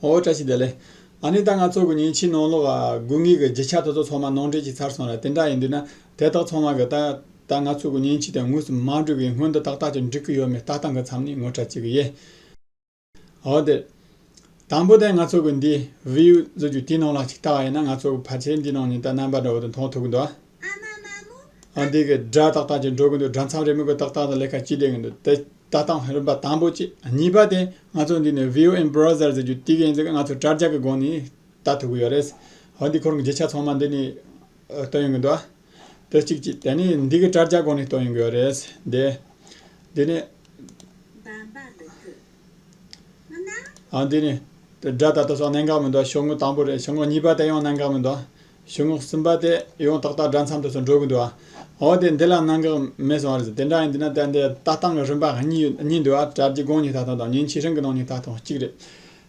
ཨོ་བཀྲ་ཤིས་བདེ་ལེགས། ཨ་ནི་ད་ང་ཚོ་གི་ཉིན་ཕྱི་ནང་ལོག་དགུ་གཉིས་ཀྱི་རྗེ་ཆ་ཐོ་ཚོ་ཚང་མ་ནང་འདྲེན་བྱས་ཚར་སོང་ལ་དེ་འདྲ་ཡིན་དུས་ན་དེ་དག་ཚང་མ་གི་ད་ད་ང་ཚོ་གི་ཉིན་ཕྱི་དེ་དངོས་སུ་མ་འགྲིག་གི་སྔོན་དུ་ཏག་ཏག་ཅིག་འགྲིག་གི་ཡོད་མེད་ལྟ་སྟངས་གི་མཚམས་ནས་ངོ་ཕྲ་བྱེད་གི་ཡེད། ཨོ་དེ། དང་པོ་དེ་ང་ཚོ་གི་འདི་བེའུ་བཟོ་རྒྱུ་དེའི་ནང་ལ་ཅིག་ལྟ་བ་ཡིན་ན་ང་ཚོ་གི་ཕར་ཆེར་འདི་ནང་ཉིན་ལྟར་རྣམ་པ་འདྲ་བོ་དེ་མཐོང་ཐུབ་གི་འདུག་ཨ། ཨ་འདི་གི་སྒྲ་ཏག་ཏག་ཅིག་འགྲོ་གི་འདུག་སྒྲ་མཚམས་རེ་མིན་གོ་ཏག་ཏག་དང་ལས་ཀ་གཅིག་བསྡད་ཀྱི་འདུག་དེ་ལྟ་སྟངས་རིམ་པ་དང་པོ་གཅིག་གཉིས་པ་དེ་ང་ཚོ་འདི་ནས VOM Browser ཟེར་རྒྱུ་དེ་གའི་ཡིན་ཟེར་ང་ཚོ་དྲྭ་རྒྱ་གི་སྒོ་ནས་ལྟ་ཐུབ་ཀྱི་ཡོད་རེད། ཧོ་འདི་ཁོར་གྱི་རྗེས་ཆ་ཚང་མ་འདི་ནས་སྟོན་ཡོང་གི་འདུག་དེ་གཅིག་གཅིག་དེ་ནས་འདི་གི་དྲྭ་རྒྱ་སྒོ་ནས་སྟོན་ཡོང་གི་ཡོད་རེད། དེ་འདི་ནས་ཨ་འདི་ནས་དེ་སྒྲ་ད་ལྟ་སོགས་གནད་འགག་མི་འདུག་ཤོག་ངོས་དང་པོ་རེད་ཤོག་ངོས་གཉིས་པ་དེ་ཡང་གནད་འགག་མི་འདུག་གཞུ་ངོགས་གསུམ་པ་དེ་ཡང་ཏག་ཏག་སྦྲ་མཚམས་དུ་སོང་འགྲོ་གི་འདུག་ཨ་འོ་དེ་འདི་ལ་གནང་གི་མེད་སོང་བ་རེད་དེ་འདྲ་ཡིན་དུས་ན་དེར་འདི་ལྟ་སྟངས་ཀྱི་རིམ་པ་གཉིས་འདུག་ཨ་གྲལ་གྱི་དགོངས་ཉི་ད་དང་དང་ཉིན་ཕྱི་རིང་གི་གནང་ཉི་ད་དང་གཅིག་རེད།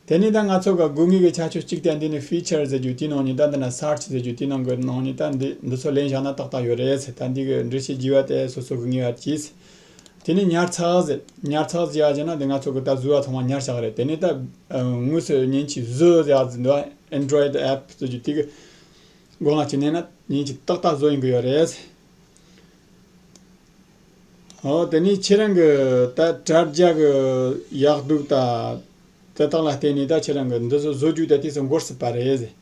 དེ་ནི་ད་ང་ཚོ་ག་དགོས་ངེས་ཀྱི་ཆ་ཆོས་གཅིག་དེ་འདི་ནི Feature ཟེར་རྒྱུ་དེའི་གནང་ཉི་ད་འདི་ན Search ཟེར་རྒྱུ་དེའི་གནང་གི་གནང་ཉི་ད་འདི་འདི་ཚོ་ལེན་བཞག་ན་ཏག་ཏག་ཡོད་རེད་ད་འདི་གི་འབྲི་བྱེད་བགྱི་བ་དེ་སོ་སོ་གི་ངེས་བར་གྱིས། དེ་ནས་ཉར་ཚགས་གཟེར། ཉར་ཚགས་གཟེར་ཡག་བྱས་ན་དེ་ང་ཚོ་གི་ད་བཟོས་བ་ཚང་མ་ཉར་ཆགས་རེད་དེ་ནས་ད་དངོས་སུ་ཉིན་གཅིག་བཟོས་ཡག་བཟོས་འདུག Android app བཟོ་རྒྱུ་དེ་གི་སྒོ་ང་ཆེ་ནས་ན་ཉིན་གཅིག་ཏག་ཏག་བཟོ་ཡིན་གི་ཡོད་རེད། ཧོ་དེ་ནས་ཁྱེད་རང་གི་ད་དྲ་རྒྱ་གི་ཡག་སྡུག་ད་དེ་དག་ལ་བལྟས་ནས་ད་ཁྱེད་རང་གི་འདི་བཟོ་བཟོ་རྒྱུ་ད་དེ་ཚོ་འགོར་སྲིད་པ་རེད་ཟེར།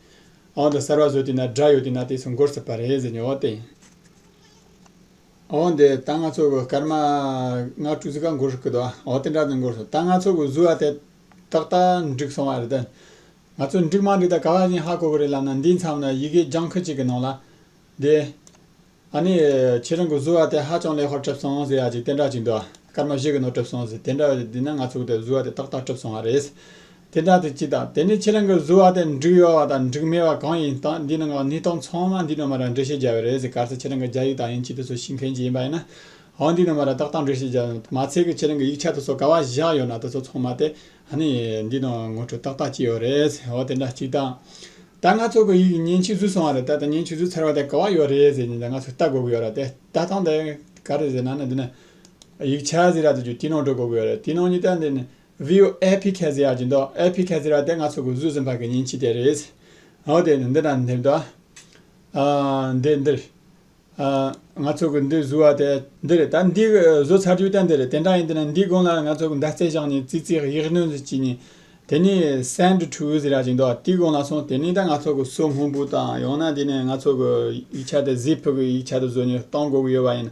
ཨོ་འདི་གསར་བ་བཟོས་དེ་ན་དྲ་ཡོད་དེ་ན་དེ་ཚོ་འགོར་སྲིད་པ་རེད་ཟེར་ཉོ་བ་དེ། འོ་འདི་རྟ་རྔ་ཚོགས་གུ་སྐར་མ་སྔ་དྲོ་ཙི་ག་མགོ་ཧྲུག་གི་འདུག་ཨ་འོ་དེ་འདྲ་ནི་མགོ་ཧྲུག་རྟ་རྔ་ཚོགས་གུ་བཟོས་བ་དེ་ཏག་ཏག་འགྲིག་སོང་བ་རེད་དེ། ང་ཚོ་འགྲིག་མ་འགྲིག་ད་ག་བ་བཞིན་ཧ་གོ་གི་རེད་ལབ་ན་འདིའི་མཚམས་ལ་ཡི་གེ་ལྗང་ཁུ་གཅིག་གི་ནང་ལ། འདི། ཨ་ནི། ཁྱེད་རང་གི་བཟོས་བ་དེ་ཧ་ཅང་ལེགས་ཧོར་གྲིབ་སོང་ཟེར་ཡ་ཅིག་དེ་འདྲ་ཅིག་འདུག་སྐར་མ་བཞི་གི་ནང་གྲིབ་སོང་ཟེར་དེ་འདྲ་བ་ཞིག་འདུག་ན་ང་ཚོ་གི་དེ་བཟོས་བ་དེ་ཏག་ཏག་གྲིབ་སོང་བ་རེད། དེ་དག་དེ་ཅི་དང་དེ་ནི་ཁྱེད་རང་གིས་བཟོས་བ་དེ་འགྲིག་ཡོད་བ་དང་འགྲིག་མེད་བ་གང་ཡིན་དང་འདི་ནི་ངག་ནུས་སྟངས་ཚང་མ་འདི་རྣམས་མ་ར་འགྲེལ་བཤད་རྒྱག་གི་རེད་ཟེར་ག་ཚད་ཁྱེད་རང་གི་རྒྱ་ཡིག་དག་ཡིན་གཅིག་ཏུ་སོ་ཤིང་མཁན་གྱི་ཡིན་པ་ཡིན་ན་འང་འདི་རྣམས་མ་ར་ཏག་ཏག་འགྲེལ་བཤད་རྒྱག་ཡོང་མ་ཚད་ཀྱི་ཁྱེད་རང་གི་ཡིག་ཆ་དུ་སོ་ག་བ་བཞག་ཡོད་ན་དེ་ཚོ་ཚང་མ་དེ་ནི་འདི་ནང་ངོ་འཕྲོད་ཏག་ཏག་ཅིག་ཡོད་རེད་ཟེར་འོ་དེ་འདྲ་གཅིག་དང། ད་ང་ཚོ་གི་ཡིག་ཉན་ཆུད་ཟོས་སོང་བ་རེད་ད་ད་ཉན་ཆུད་ཟོས་ཚར་བ་དེ་ག་བ་ཡོད་རེད་ཟེར་ནས་ད་ང་ཚོས་ལྟ་དགོས་ཀྱི་ཡོད་ར་དེ་ལྟ་སྟངས་དེ་ག་རེད་ཟེར་ན་ནི་འདི་ནི་ཡིག་ཆ་ཟེར་ར་དེ་ཚོ་དེའི་ནང་འགྲོ་དགོས་ཀྱི་ཡོད་རེད་དེའི་ནང་ཉིད་དེ་འདི་ནི། བྷིའུ་ཨེ་ཕི་ཁེ་ཛི་ཡ་ཇི་མདོ་ཨེ་ཕི་ཁེ་ཛི་ར་དེ་ང་ཚོ་གུ་ཟུ་ཟིན་པ་གི་ཉིན་གཅིག་དེ་རེད། ཨོ་དེ་ནི་འདི་དང་འདི་མདོ། ཨ། འདི་འདིར། ཨ། ང་ཚོ་གི་འདི་བཟོ་བ་དེ་འདི་རེད་ད་འདི་གི་བཟོ་ཚར་རྒྱུ་དེ་འདི་རེད་དེ་འདྲ་ཡིན་དེ་ནི་འདིའི་དགུང་ལ་ང་ཚོ་གི་མདའ་རྩེ་བཞག་ནས་ཙི་ཙིའི་ཡིག་སྣོད་ཟེར་གྱི་ཉིན། དེ་ནི་སེནད་ཁྲུའུ་ཟི་ར་ཇི་མདོ་དེའི་དགུང་ལ་སོང་དེ་ནི་ད་ང་ཚོ་གི་སོ་སྔོན་པོ་དང་ཡང་ན་དེ་ནི་ང་ཚོ་གི་ཡིག་ཆ་དེ་གཟིགས་ཕུག་གི་ཡིག་ཆ་དེ་བཟོ་ནས་གཏོང་དགོས་གི་ཡོད་པ་ཡིན།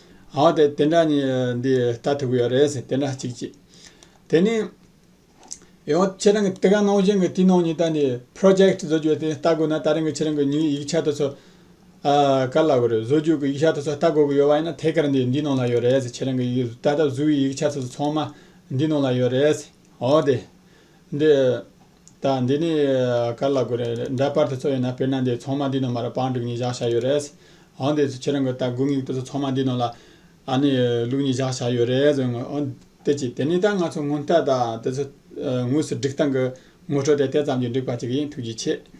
ཨའོ་དེ་དེ་འདྲ་ནི་འདི་ལྟ་ཐུབ་ཀྱི་ཡོད་རེད་ཟེར་དེ་འདྲ་གཅིག་གཅིག། དེ་ནི། ཡང་ཁྱེད་རང་གི་དེ་ག་གནང་བཞིན་གྱི་དུས་ནང་ཉིད་ལྟ་ནི Project བཟོ་རྒྱུ་དེ་ལྟ་དགོས་ན་ད་རིང་གི་ཁྱེད་རང་གི་ཉིན་ཡིག་ཆ་དེ་ཚོ། ག་ལ་དགོས་རེད་བཟོ་རྒྱུ་གི་ཡིག་ཆ་དེ་ཚོ་ལྟ་དགོས་ཀྱི་ཡོད་བ་ཡིན་ན་ཐད་ཀར་འདི་འདི་ནང་ལ་ཡོད་རེད་ཟེར་ཁྱེད་རང་གི་ད་ལྟ་བཟོ་བའི་ཡིག་ཆ་དེ་ཚོ་ཚང་མ་འདི་ནང་ལ་ཡོད་རེད་ཟེར། ཨའོ་དེ། འདི། ད་འདི་ནས་ག་ལ་དགོས་རེད། འདྲ་པར་དེ་ཚོ་ཡོད་ན་དཔེར་ན་འདི་ཚོང་མ་འདི་ནང་མ་ར་པང་དྲུག་གཉིས་བཞག་བཞག་ཡོད་རེད། འོན་ཏེ་ཁྱེད་རང་གི་ད་དགུ་ངེད་དེ་ཚོ་ཚོང་མ་འདི་ནང་ལ་ཨ་ནི་ལུག་གཉིས་བཞག་བཞག་ཡོད་རེད། འོན་ཏེ་ཅི་དེ་ནི་ད་ང་ཚོ་སྔོན་ལྟར་ད་དེ་ཚོ་ངོས་སུ་འགྲིག་སྟངས་ཀྱི་ངོ་སྤྲོད་དེ་དེ་ཙམ་གྱིས་འགྲིག་པ་ཅིག་ཡིན་ཐུགས་རྗེ་ཆེ།